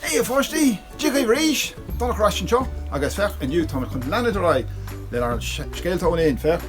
Hé a pháistí! Tiocfaidh arís! Táim ar ais anseo agus féach, inniu táimid chun leanúint ar aghaidh lenár scéalta ón Ind. Féach!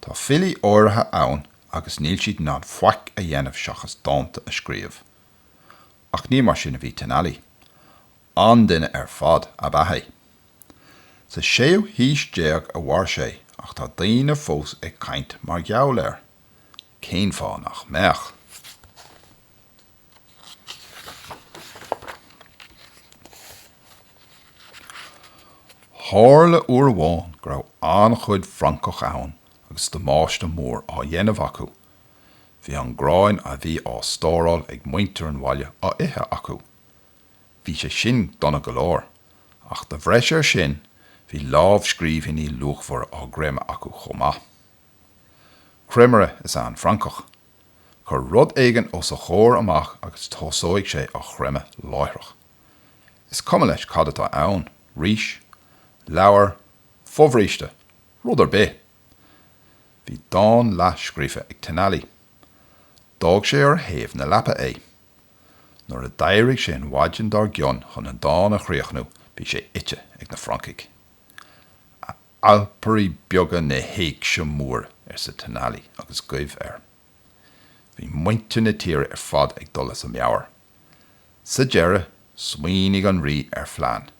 Tá filí áirithe ann agus níl siad in ann faic a dhéanamh seachas dánta a scríobh. Ach ní mar sin a bhí Tenali. An-duine ar fad ab ea é. Sa séú haois déag a mhair sé ach tá daoine fós ag caint mar gheall air. Cén fáth nach mbeadh? Tharla uair amháin go raibh an-chuid francach ann agus damáiste mór á dhéanamh acu. Bhí an grán a bhí á stóráil ag muintir an bhaile á ithe acu. Bhí sé sin dona go leor, ach de bhreis air sin, bhí lámhscríbhinní luachmhara á gcreimeadh acu chomh maith. Creimire is ea an francach. Cuir rud éigin os a chomhair amach agus tosóidh sé á chreimeadh láithreach. Is cuma leis cad atá ann, rís, leabhar, fobhríste, rud ar bith. Bhí dán leath scríofa ag Tenali. D'fhág sé ar thaobh na leapa é. Nuair a d'éirigh sé an mhaidin dár gcionn chun an dán a chríochnú bhí sé ite ag na francaigh. 'Alpairí beaga na héigse móire, arsa Tenali agus goimh air. Bhí muintir na tíre ar fad ag dul as a meabhair. Sa deireadh, smaoinigh an rí ar phlean.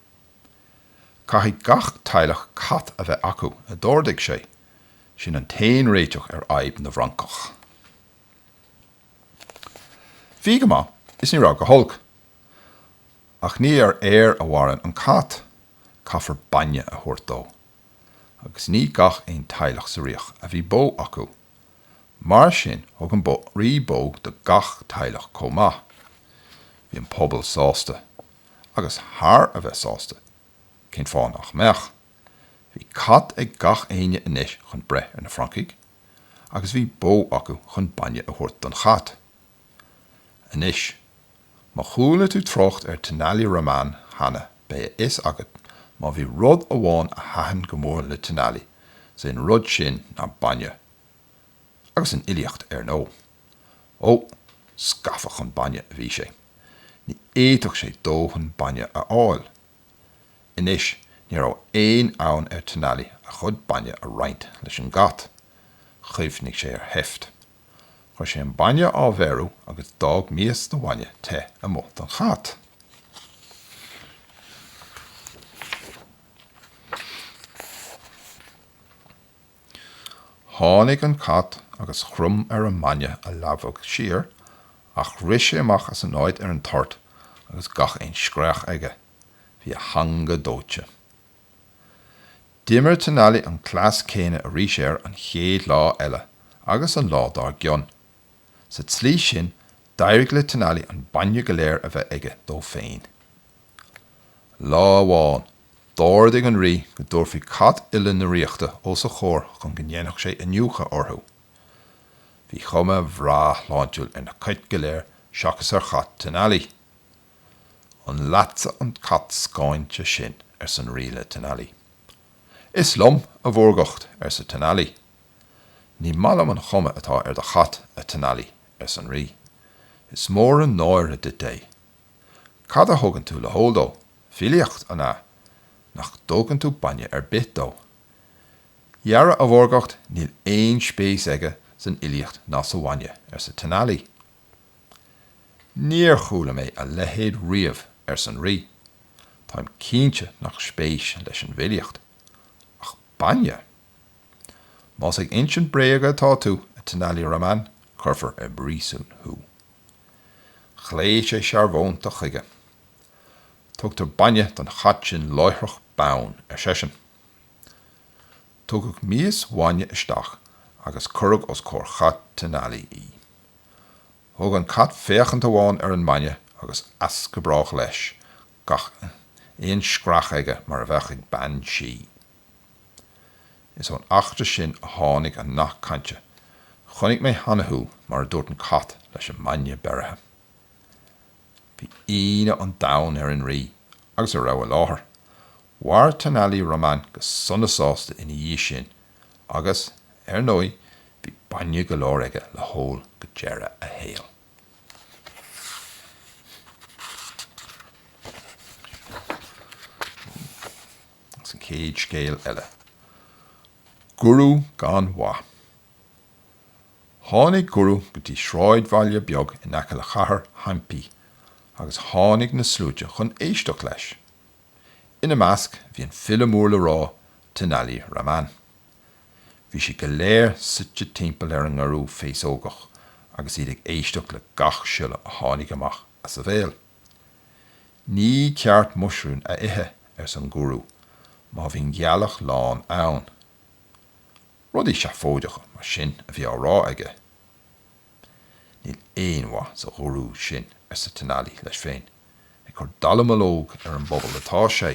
'Caithfidh gach teaghlach cat a bheith acu, a d'ordaigh sé. 'Sin an t-aon réiteach ar fhadhb na bhfrancach. Bhí go maith is ní raibh go holc. Ach ní ar aer a mhaireann an cat, caithfear bainne a thabhairt dó. Agus ní gach aon teaghlach sa ríocht a bhí bó acu. Mar sin thug an rí bó do gach teaghlach chomh maith. Bhí an pobal sásta. Agus thar a bheith sásta. Cén fáth nach mbeadh? Bhí cat ag gach éinne anois chun breith ar na francaigh. agus bhí bó acu chun bainne a thabhairt don chat. Anois, má chuala tú trácht ar Tenali Raman cheana, beidh a fhios agat má bhí rud amháin a thaitin go mór le Tenali, is é an rud sin ná bainne. Agus an fhilíocht, ar ndóigh. Ó, scafa chun bainne a bhí sé. Ní fhéadfadh sé dóthain bainne a fháil. Anois, ní raibh aon fhonn ar Tenali a chuid bainne a roinnt leis an gcat. Chuimhnigh sé ar sheift. Chuir sé an bainne á bheiriú agus d'fhág mias de bhainne te amuigh don chat. Tháinig an cat agus chrom ar an mbainne a leadhbadh siar, ach rith sé amach as an áit ar an toirt agus gach aon scréach aige. Bhí a theanga dóite. D'imir Tenali an cleas céanna arís air an chéad lá eile agus an lá dár gcionn. Sa tslí sin, d'éirigh le Tenali an bainne go léir a bheith aige dó féin. Lá amháin, D'ordaigh an rí go dtabharfaí cait uile na ríochta os a chomhair chun go ndéanfadh sé iniúchadh orthu. Bhí cuma bhreá shláintiúil ar na cait go léir seachas ar chat Tenali. 'An leatsa an cat scáinte sin? arsa an rí le Tenali. 'Is liom, a mhórgacht, arsa Tenali. 'Ní maith liom an chuma atá ar do chat, a Tenali, arsa an rí. 'Is mór an náire duit é. Cad a thugann tú le hól dó? Filíocht, an ea? Nach dtugann tú bainne ar bith dó? Dhera a mhórgacht, níl aon spéis aige san fhilíocht ná sa bhainne, arsa Tenali. Níor chuala mé a leithéid riamh, arsa an Rí. Táim cinnte nach spéis leis an bhfilíocht. Ach bainne? Más ag insint bréag atá tú, a Tenali Raman, cuirfear i bpríosún thú. Ghlaoigh sé searbhónta chuige. Tugtar bainne don chat sin láithreach bonn, ar seisean. Tugadh mias bhainne isteach agus cuireadh os comhair chat Tenali í. Thug an cat féachaint amháin ar an mbainne agus as go brách leis, gach aon scréach aige mar a bheadh ag bean sí. Is ón eachtra sin a tháinig an nath cainte, 'Chonaic mé cheana thú' mar a dúirt an cat leis an mbainne beirithe. Bhí ionadh an domhain ar an rí agus a raibh i láthair. Mhair Tenali Raman go sona sásta ina dhiaidh sin agus, ar ndóigh, bhí bainne go leor aige le hól go deireadh a shaoil. An chéad scéal eile, 'Guru gan mhaith', tháinig Guru go dtí sráidbhaile beag in aice le cathair Hampi agus tháinig na sluaite chun éisteacht leis. Ina measc bhí an file mór le rá Tenali Raman. Bhí siad go léir suite timpeall ar an nGurú féasógach agus iad ag éisteacht le gach siolla a tháinig amach as a bhéal. Ní ceart muisiriún a ithe, arsa an Gúrú, má bhíonn gealach lán ann. Rudaí seafóideacha mar sin a bhí á rá aige. Níl aon mhaith sa Ghúrú sin, arsa Tenali leis féin. Ag cur dallamullóg ar an bpobal atá sé.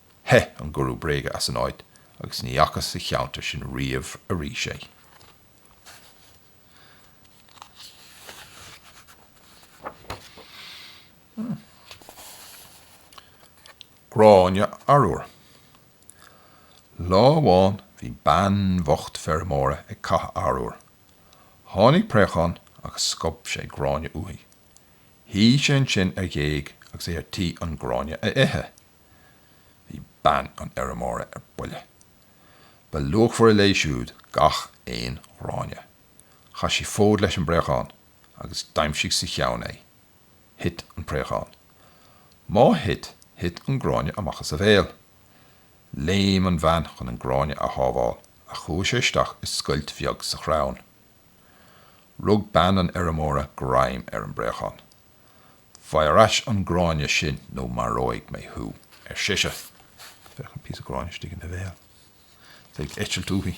Theith an gurú bréige as an áit agus ní fhacthas sa cheantar sin riamh arís é. Gráinne arúir. Lá amháin bhí bean bhocht feirmeora ag cáitheadh arúir. Tháinig préachán agus scuab sé gráinne uaithi. Shuigh sé ansin ar ghéig agus é ar tí an gráinne a ithe. Bhí bean an fheirmeora ar buile. Ba luachmhaire léi siúd gach aon ghráinne. Chaith sí fód leis an bpréachán agus d'aimsigh sa cheann é. Thit an préachán. Má thit, thit an gráinne amach as a bhéal. Léim an bhean chun an gráinne a shábháil ach chuaigh sé isteach i scoilt bheag sa chrann. Rug bean an fheirmeora greim ar an bpréachán. Faigh ar ais an gráinne sin nó maróidh mé thú, ar sise. Féach an píosa gráinne istigh ina bhéal. 'S é ag eitilt uaithi.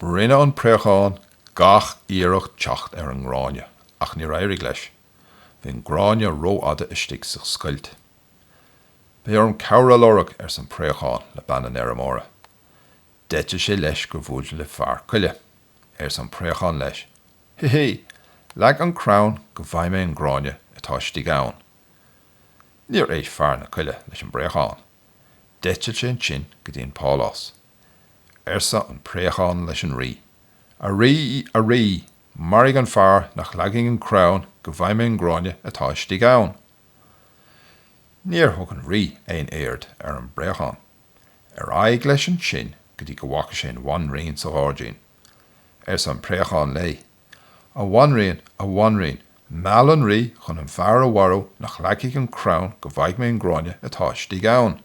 Rinne an préachán gach iarracht teacht ar an ngráinne, ach níor éirigh leis. Bhí an gráinne rófhada istigh sa scoilt. Beidh orm cabhair a lorg, arsa an préachán le bean an fheirmeora. D'eitil sé leis gur bhuail le fear coille. Arsa an préachán leis, Hi hi! Leag an crann go bhfaghaidh mé an gráinne atá istigh ann. Níor éist fear na coille leis an bpréachán. D'eitil sé ansin go dtí an pálás. Arsa an préachán leis an rí, A rí! A rí! Maraigh an fear nach leagann an crann go bhfaghaidh mé an gráinne atá istigh ann. Níor thug an rí aon aird ar an bpréachán. Ar aghaidh leis ansin go dtí go bhfaca sé an bhanríon sa ghairdín. Arsa an préachán léi, A bhanríon, a bhanríon, meall an rí chun an fear a mharú nach leagfaidh an crann go bhfaighidh mé an gráinne atá istigh ann.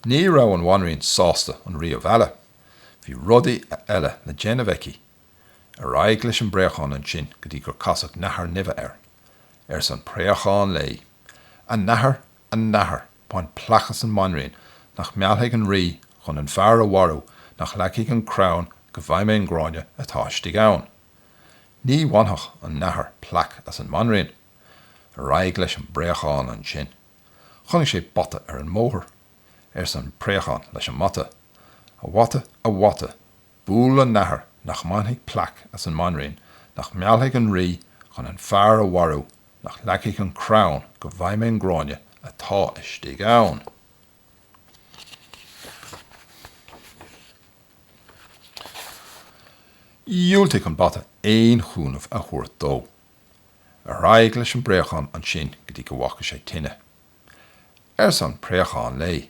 Ní raibh an bhanríon sásta an rí a mhealladh. Bhí rudaí eile le déanamh aici. Ar aghaidh leis an bpréachán ansin go dtí gur casadh nathair nimhe air. Arsa an préachán léi, A nathair, a nathair, bain plaic as an mbanríon, nach meallfaidh an rí chun an fear a mharú, nach leagfaidh an crann go bhfaighidh mé an gráinne atá istigh ann. Ní bhainfeadh an nathair plaic as an mbanríon. Ar aghaidh leis an bpréachán ansin. Chonaic sé bata ar an mbóthar. Arsa an préachán leis an mbata, A bhata, a bhata, buail an nathair nach mbainfidh plaic as an mbanríon, nach meallfaidh an rí dhon an fear a mharú, Nach leagfaidh an crann go bhfaighidh mé an gráinne atá istigh ann. Dhiúltaigh an bata aon chúnamh a thabhairt dó. Ar aghaidh leis an bpréachán ansin go dtí go bhfaca sé tine. Arsa an préachán léi,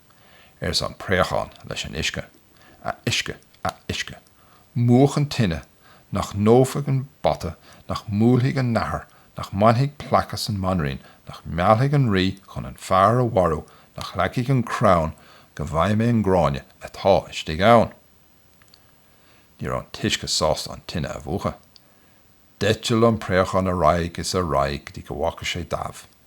arsa an préachán leis an uisce, a uisce, a uisce, múch an tine, nach ndófaidh an bata, nach mbuailfidh an nathair, nach mbainfidh plaic as an mbanríon, nach meallfaidh an rí chun an fear a mharú, nach leagfaidh an crann go bhfaighidh mé an gráinne atá istigh ann. Ní raibh an t-uisce sásta an tine a mhúchadh. D'eitil an préachán ar aghaidh is ar aghaidh go dtí go bhfaca sé damh.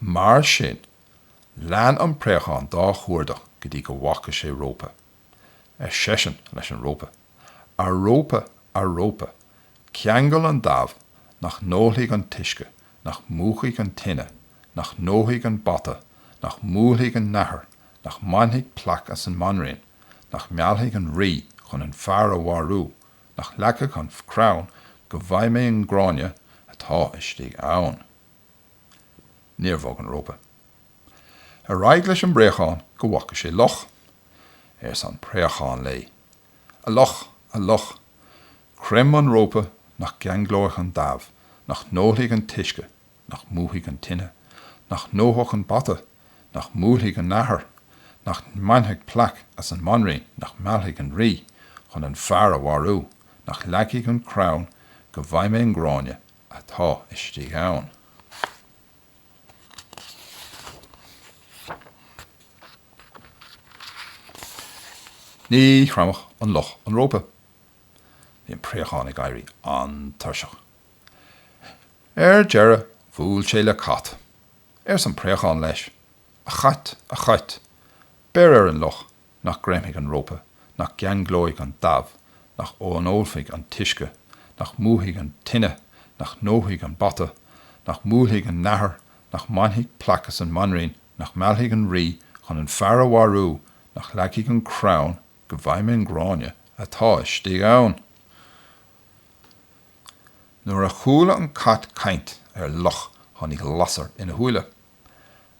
Mar sin, lean an préachán dá chuardach go dtí go bhfaca sé rópa. Ar seisean leis an rópa, A rópa, a rópa, ceangail an damh nach n-ólfaidh an t-uisce, nach múchfaidh an tine, nach ndófaidh an bata, nach mbuailfidh an nathair, nach mbainfidh plaic as an mbanríon, nach meallfaidh an rí chun an fear a mharú, nach leagfaidh an crann go bhfaighidh mé an gráinne atá istigh ann. Níor bhog an rópa. Ar aghaidh leis an bpréachán go bhfaca sé luch. Arsa an préachán léi, A luch! A luch! creim an rópa, nach gceanglóidh an damh, nach n-ólfaidh an t-uisce, nach múchfaidh an tine, nach ndófaidh an bata, nach mbuailfidh an nathair, nach mbainfidh plaic as an mbanríon, nach meallfaidh an rí chun an fear a mharú, nach leagfaidh an crann go bhfaighidh mé an gráinne atá istigh ann. Ní chreimfeadh an luch an rópa. Bhí an préachán ag éirí an-tuirseach. Ar deireadh bhuail sé le cat. Arsa an préachán leis, A chait, a chait, beir ar an luch nach gcreimfidh an rópa, nach gceanglóidh an damh, nach n-ólfaidh an t-uisce, nach múchfaidh an tine, nach ndófaidh an bata, nach mbuailfidh an nathair, nach mbainfidh plaic as an mbanríon, nach meallfaidh an rí chun an fear a mharú, nach leagfaidh an crann go bhfaighidh mé an gráinne atá istigh ann. Nuair a chuala an cat caint ar luch tháinig lasair ina shúile.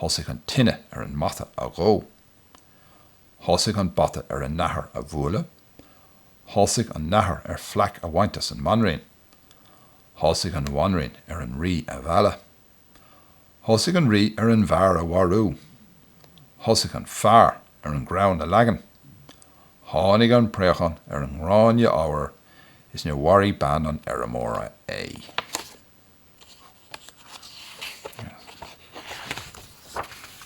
Thosaigh an tine ar an mbata a dhó. Thosaigh an bata ar an nathair a bhualadh. Thosaigh an nathair ar phlaic a bhaint as an mbanríon. Thosaigh an bhanríon ar an rí a mhealladh. Thosaigh an rí ar an bhfear a mharú. Thosaigh an fear ar an gcrann a leagan. Tháinig an préachán ar an ngráinne arbhair is níor mharaigh bean an fheirmeora é.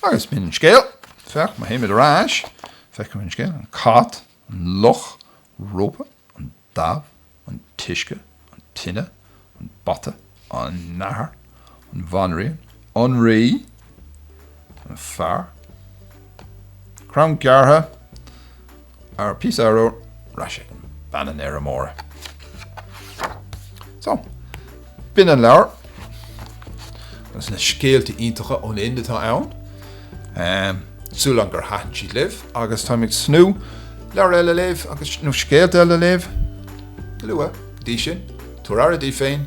Agus b'in an scéal. Féach, má théimid ar ais, feicfimid an scéal, an cat, an luch rópa, an damh, an t-uisce, an tine, an bata, an nathair, an bhanríon, an rí, an fear, crann gearrtha, An píosa arbhair agus bean an fheirmeora. So, b'in an leabhar agus na scéalta iontacha ón Ind atá ann. Súil agam gur thaitin siad libh agus táim ag tnúth leabhar eile a léamh agus, nó scéalta eile a léamh go luath. Go dtí sin, tabhair aire daoibh féin.